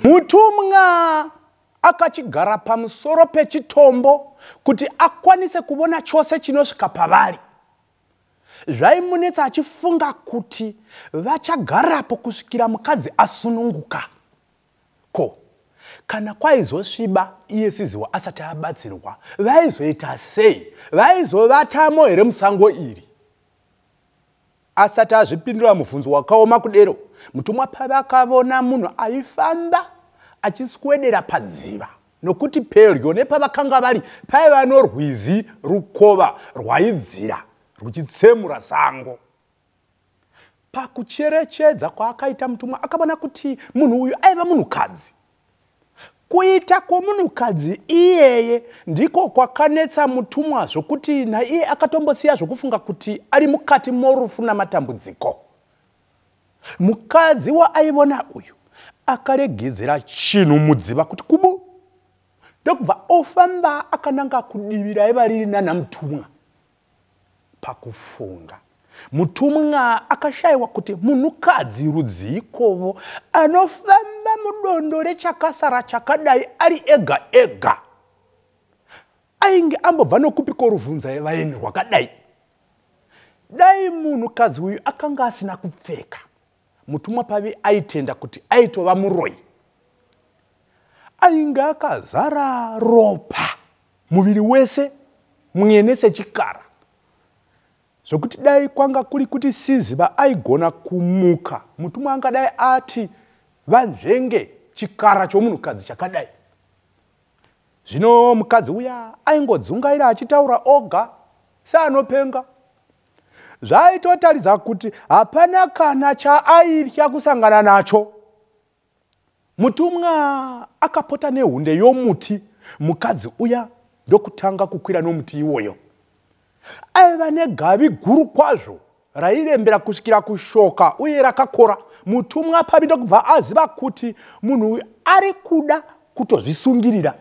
mutumwa akachigara pamusoro pechitombo kuti akwanise kuvona chose chinosvika pavari zvaimunetsa achifunga kuti vachagarapo kusvikira mukadzi asununguka ko kana kwaizosviba iye siziwa asati abatsirwa vaizoita sei vaizovatamo here musango iri asati azvipindura mubvunzo wakaoma kudero mutumwa pavakavona munhu aifamba achiswedera padziva nokuti pedyo nepavakanga vari paiva norwizi rukova rwaidzira ruchitsemura sango pakucherechedza kwaakaita mutumwa akavona kuti munhu uyu aiva munhukadzi kuita kwomunhukadzi iyeye ndiko kwakanetsa mutumwa zvokuti naiye akatombosiya zvokufunga kuti ari mukati morufu namatambudziko mukadzi waaivona uyu akaregedzera chinhu mudziva kuti kubu ndokubva ofamba akananga kudivi raiva riri nana mutumwa pakufunga mutumwa akashayiwa kuti munhukadzi rudzii kovo anofamba mudondo rechakasara chakadai ari ega ega ainge ambobva nokupi koruvhunza yevaeni rwakadai dai munhukadzi uyu akanga asina kupfeka mutumwa pavi aitenda kuti aitova muroi ainge akazara ropa muviri wese mwene sechikara zvekuti dai kwanga kuri kuti siziva aigona kumuka mutumwa angadai ati vanzvenge chikara chomunhukadzi chakadai zvino mukadzi uya aingodzungaira achitaura oga seanopenga zvaaitotaridza kuti hapana kana chaaitya kusangana nacho Mutumwa akapota nehunde yomuti, mukadzi uya ndokutanga kukwira nomuti iwoyo. Aiva negavi guru kwazvo rairembera kusvikira kushoka uye rakakora. Mutumwa pavi ndokubva aziva kuti munhu uyu ari kuda kutozvisungirira.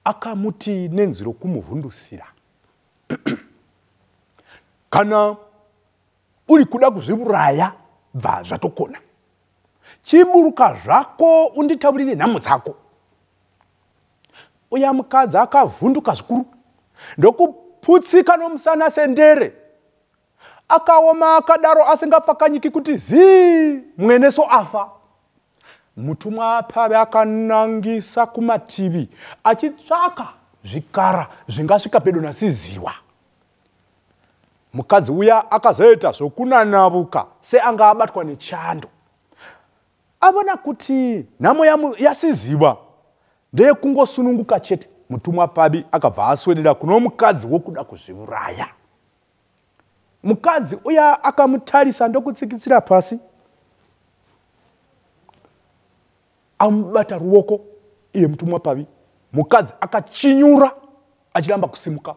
Akamuti nenzwi rokumuvhundusira. Kana uri kuda kuzviuraya bva zvatokona chiburuka zvako unditaurire nhamo dzako uya mukadzi akavhunduka zvikuru ndokuputsika nomusana sendere akaoma akadaro asingapfakanyiki kuti zii mweneso afa mutumwa apave akanangisa kumativi achitsvaka zvikara zvingasvika pedo nasiziwa mukadzi uya akazoita zvokunanavuka seanga abatwa nechando avona kuti nhamo yasiziva ndeyekungosununguka chete mutumwa pabi akabva aswedera kuno mukadzi wokuda kuzviuraya mukadzi uya akamutarisa ndokutsikitsira pasi amubata ruoko iye mutumwa pavi mukadzi akachinyura achiramba kusimuka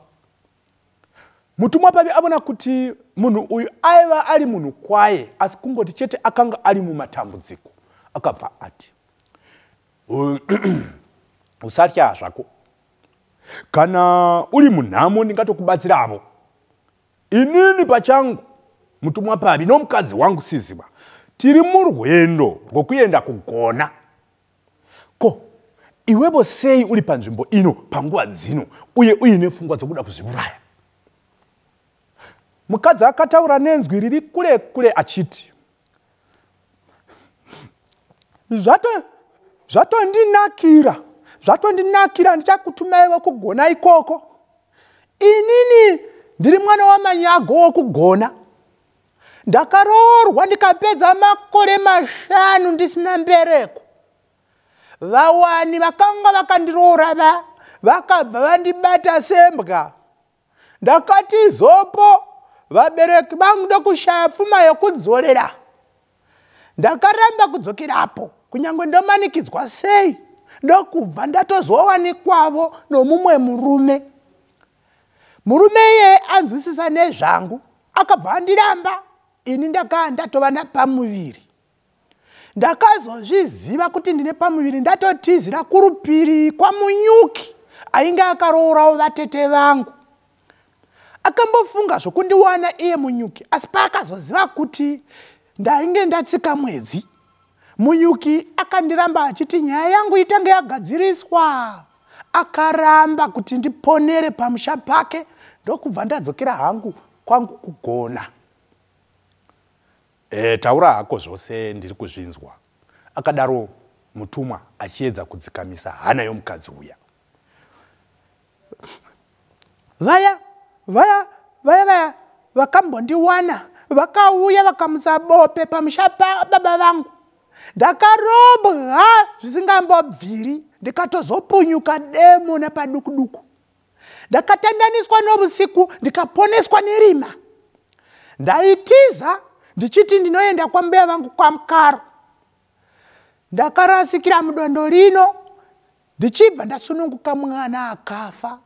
mutumwa pavi avona kuti munhu uyu aiva ari munhu kwaye asi kungoti chete akanga ari mumatambudziko akabva ati usatya zvako kana uri munhamo ndingatokubatsiravo inini pachangu mutumwa pavi nomukadzi wangu siziba tiri murwendo rwokuenda kugona ko iwevo sei uri panzvimbo ino panguva dzino uye uine pfungwa dzokuda kuzviuraya mukadzi akataura nenzwi riri kule kule achiti zvato zvatondinakira zvatondinakira ndichakutumaiwo kugona ikoko inini ndiri mwana wamanyago wokugona ndakaroorwa ndikapedza makore mashanu ndisina mbereko vawani vakanga vakandiroora va vakabva vandibata sembwa ndakati zopo vabereki vangu ndokushaya pfuma yokudzorera ndakaramba kudzokerapo kunyange ndomanikidzwa sei ndokubva ndatozowanikwavo nomumwe murume murume iyeye anzwisisa nezvangu akabva andiramba ini ndakaa ndatova napamuviri ndakazozviziva kuti ndine pamuviri ndatotizira kurupiri kwamunyuki ainge akaroorawo vatete vangu akambofunga zvokundiwana iye munyuki asi paakazoziva kuti ndainge ndatsika mwedzi munyuki akandiramba achiti nyaya yangu itange yagadziriswa akaramba kuti ndiponere pamusha pake ndokubva ndadzokera hangu kwangu kugona E, taura hako zvose ndiri kuzvinzwa, akadaro mutumwa achiedza kudzikamisa hana yomukadzi uya. Vaya, vaya, vaya, vaya vakambondiwana vakauya vakamutsa bope pamusha pababa vangu ndakarobwa zvisingambobviri ndikatozopunyuka demo napadukuduku ndakatandaniswa novusiku ndikaponeswa nerima ndaitiza ndichiti ndinoenda kwambuya vangu kwamukaro ndakarasikira mudondo rino ndichibva ndasununguka mwana akafa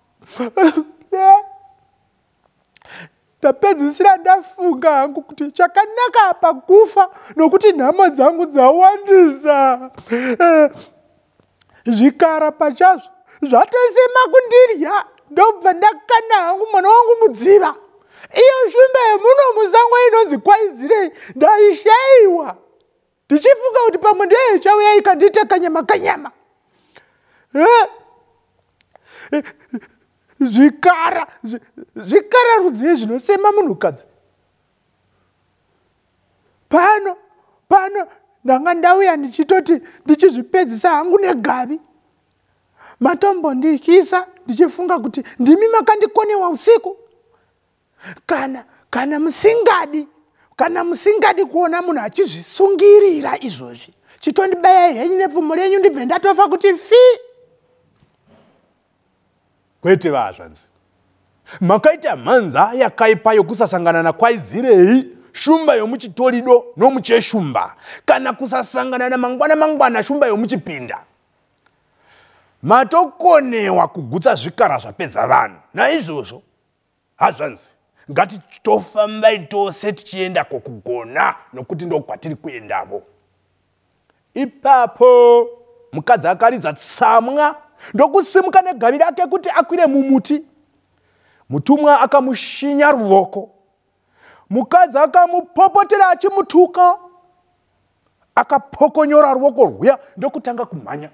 ndapedzisira ndafunga hangu kuti chakanaka pakufa nokuti nhamo dzangu dzawandisa eh, zvikara pachazvo zvatosema kundirya ndobva ndakana hangu mwana wangu mudziva iyo shumba yemuno musango inonzi kwaidzirei ndaishaiwa ndichifunga kuti pamwe ndiye ichauya ikandiita kanyama kanyama zvikara zvikara rudzii zvinosema munhukadzi pano pano ndanga ndauya ndichitoti ndichizvipedzisa hangu negavi matombondikisa ndichifunga kuti ndimi makandikonewa usiku kana kana musingadi kana musingadi kuona munhu achizvisungirira izvozvi chitondibayai henyu nepfumo renyu ndibve ndatofa kuti fi kwete vazvanzi makaita mhanza yakaipa yokusasangana nakwaidzirei shumba yomuchitorido nomucheshumba kana kusasangana namangwana mangwana shumba yomuchipinda matokonewa kugutsa zvikara zvapedza vanhu naizvozvo hazvanzi ngatitofambai tose tichienda kokugona nokuti ndokwatiri kuendavo ipapo mukadzi akaridza tsamwa ndokusimuka negavi rake kuti akwire mumuti mutumwa akamushinya ruvoko mukadzi akamupopotera achimutuka akapokonyora ruoko rwuya ndokutanga kumhanya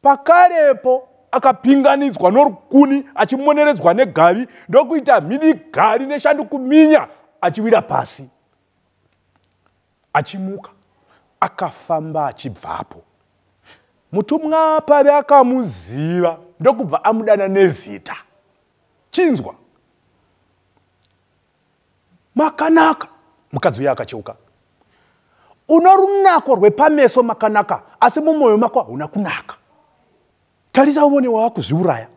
pakarepo akapinganidzwa norukuni achimoneredzwa negavi ndokuita mhidi gari neshandi kuminya achiwira pasi achimuka akafamba achibvapo mutumwa pave akamuziva ndokubva amudana nezita chinzwa makanaka mukadzi uya akacheuka una runako rwepameso makanaka asi mumwoyo mako hauna kunaka tarisa uvone wava kuzviuraya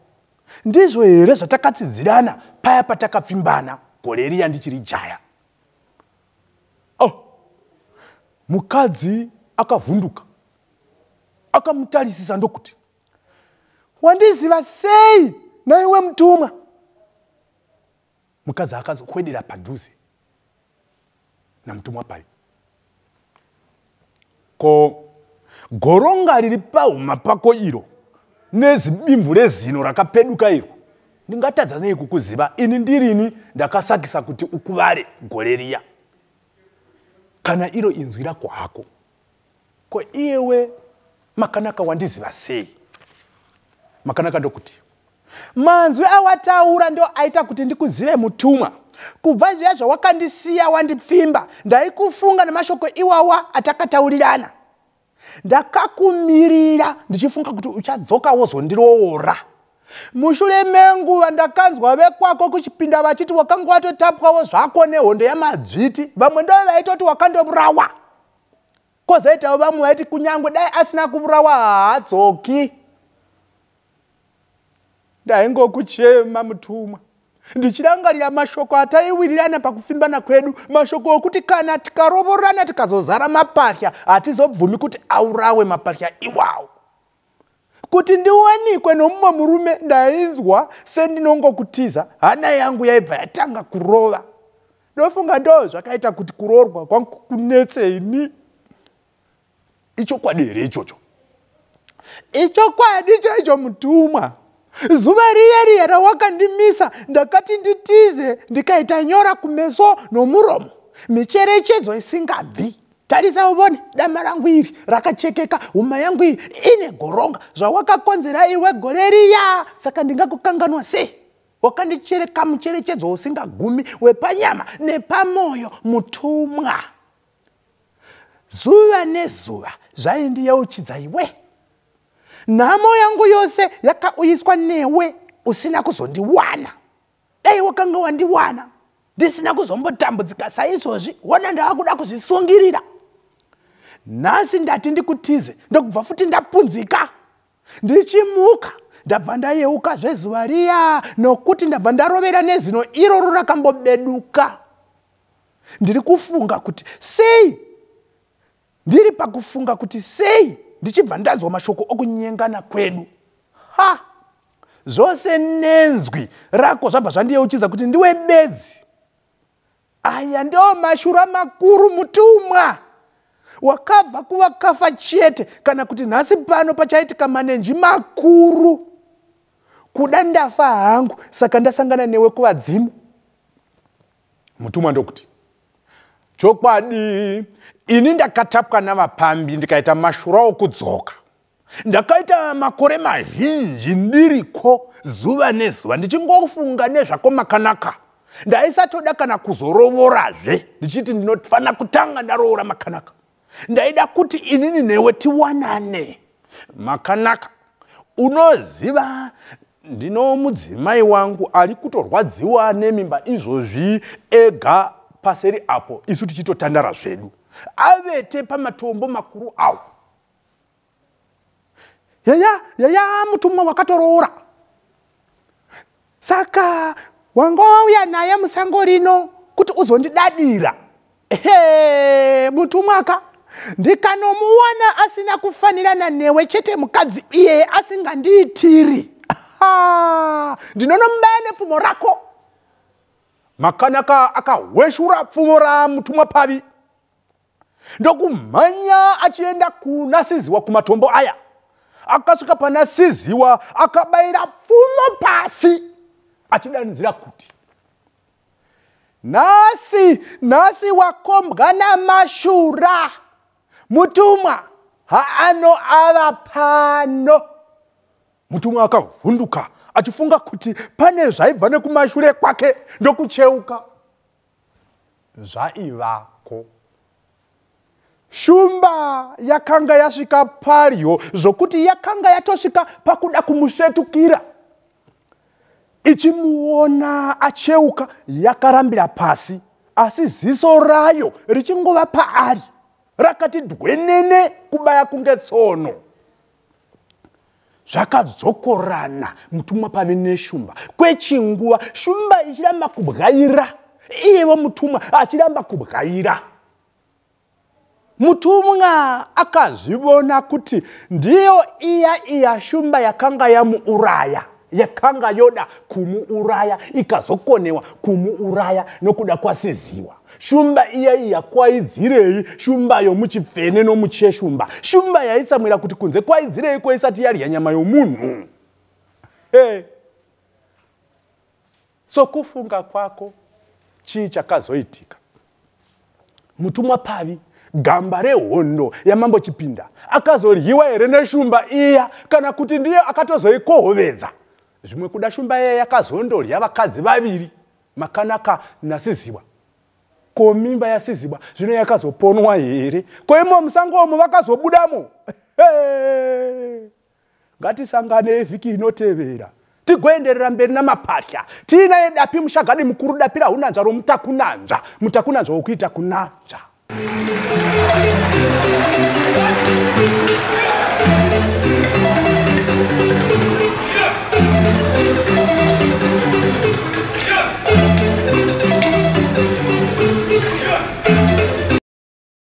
ndizvo here zvatakatsidzirana paya patakapfimbana gore riya ndichiri jaya oh. mukadzi akavhunduka akamutarisisa ndokuti wandiziva sei naiwe mutumwa mukadzi akazokwedera padhuze namutumwa payo ko goronga riri pahuma pako iro nezidimvu rezino rakapeduka iro ndingatadza nei kukuziva ini ndirini ndakasakisa kuti ukuvare gore riya kana iro inzwi rako hako ko iyewe makanaka wandiziva sei makanaka ndokuti manzwi awataura ndo aita kuti ndikuzive mutumwa kubva zviya zvawakandisiya wandipfimba ndaikufunga nemashoko iwawa atakataurirana ndakakumirira ndichifunga kuti uchadzoka wozondiroora mushure menguva ndakanzwa vekwako kuchipinda vachiti wakanga watotapwawo zvako nehondo yamadzviti vamwe ndove vaitoti wakandoburawa kozoitawo vamwe vaiti kunyange dai asina kuvurawa haadzoki ndaingokuchema mutumwa ndichirangarira mashoko ataiwirirana pakufimbana kwedu mashoko okuti kana tikarovorana tikazozara mapahya hatizobvumi kuti aurawe mapahya iwawo kuti ndiwanikwe nomumwe murume ndainzwa sendinongokutiza hana yangu yaibva yatanga kurova ndofunga ndo zvakaita kuti kuroorwa kwangu kunetse ini ichokwadi here ichocho ichokwadi chaicho mutumwa zuva riya riya rawakandimisa ndakati nditize ndikaita nyora kumeso nomuromo micherechedzo isingabvi tarisa uvone dama rangu iri rakachekeka huma yangu iyi ine goronga zvawakakonzera iwe gore riya saka ndingakukanganwa sei wakandichereka mucherechedzo usingagumi wepanyama nepamwoyo mutumwa zuva nezuva zvaindiyeuchidza iwe nhamo yangu yose yakauyiswa newe usina kuzondiwana dai wakanga wandiwana ndisina kuzombotambudzika saizvozvi wona ndava kuda kuzvisungirira nhasi ndati ndikutize ndokubva futi ndapunzika ndichimuka ndabva ndayeuka zvezuva riya nokuti ndabva ndarovera nezino iroro rakambobeduka ndiri kufunga kuti sei ndiri pakufunga kuti sei ndichibva ndanzwa mashoko okunyengana kwedu ha zvose nenzwi rako zvabva zvandiyeuchidza kuti ndiwe bedzi aya ndiwo mashura makuru mutumwa wakabva kuvakafa chete kana kuti nhasi pano pachaitika manenji makuru kuda ndafa hangu saka ndasangana newe kuvadzimu mutumwa ndokuti chokwadi ini ndakatapwa navapambi ndikaita mashura okudzoka ndakaita makore mazhinji ndiriko zuva nezuva ndichingofunga nezvako makanaka ndaisatoda kana kuzorovorazve ndichiti ndinofanira kutanga ndaroora makanaka ndaida kuti inini newe tiwanane makanaka unoziva ndino mudzimai wangu ari kutorwadziwa nemimba izvozvi ega paseri apo isu tichitotandara zvedu avete pamatombo makuru awo yaya yaya mutumwa wakatoroora saka wanga wauya naye musango rino kuti uzondidadira ehe mutumwaka ndikanomuwana asina kufanirana newe chete mukadzi iyeye asingandiitiri ndinonomubaya nepfumo rako makanaka akahweshura pfumo ramutumwa pavi ndokumhanya achienda kuna siziwa kumatombo aya akasvika pana siziwa akabayira pfumo pasi achidanidzira kuti nhasi nhasi wakombwa namashura mutumwa haano ava pano mutumwa akavhunduka achifunga kuti pane zvaibva nekumashure kwake ndokucheuka zvaivako shumba yakanga yasvika padyo zvokuti yakanga yatosvika pakuda kumusvetukira ichimuona acheuka yakarambira pasi asi ziso rayo richingova paari rakati dhwenene kubaya kunge tsono zvakadzokorana mutumwa pave neshumba kwechinguva shumba ichiramba kubwaira iyevo mutumwa achiramba kubwaira mutumwa akazvivona kuti ndiyo iya iya shumba yakanga yamuuraya yakanga yoda kumuuraya ikazokonewa kumuuraya nokuda kwasiziwa shumba iya iya kwaidzirei shumba yomuchipfene nomucheshumba shumba yaisamwira kuti kunze kwaidzirei kwaisati yadya nyama yomunhu hey. Sokufunga kwako, chii chakazoitika? Mutumwa Pavi, gamba rehondo yamambo Chipinda, akazoryiwa here neshumba iya kana kuti ndiye akatozoikohovedza? Zvimwe kuda shumba iya yakazondorya vakadzi vaviri, Makanaka naSiziwa. Ko mimba yaSiziwa zvino yakazoponwa here? Ko imo musango umo vakazobudamo? Hey! ngatisanganei vhiki inotevera tigoenderera mberi namapatya tiina yedapi mushagadi mukuru dapi rahunanzva romutakunanzva mutakunanzva wokuita kunanzva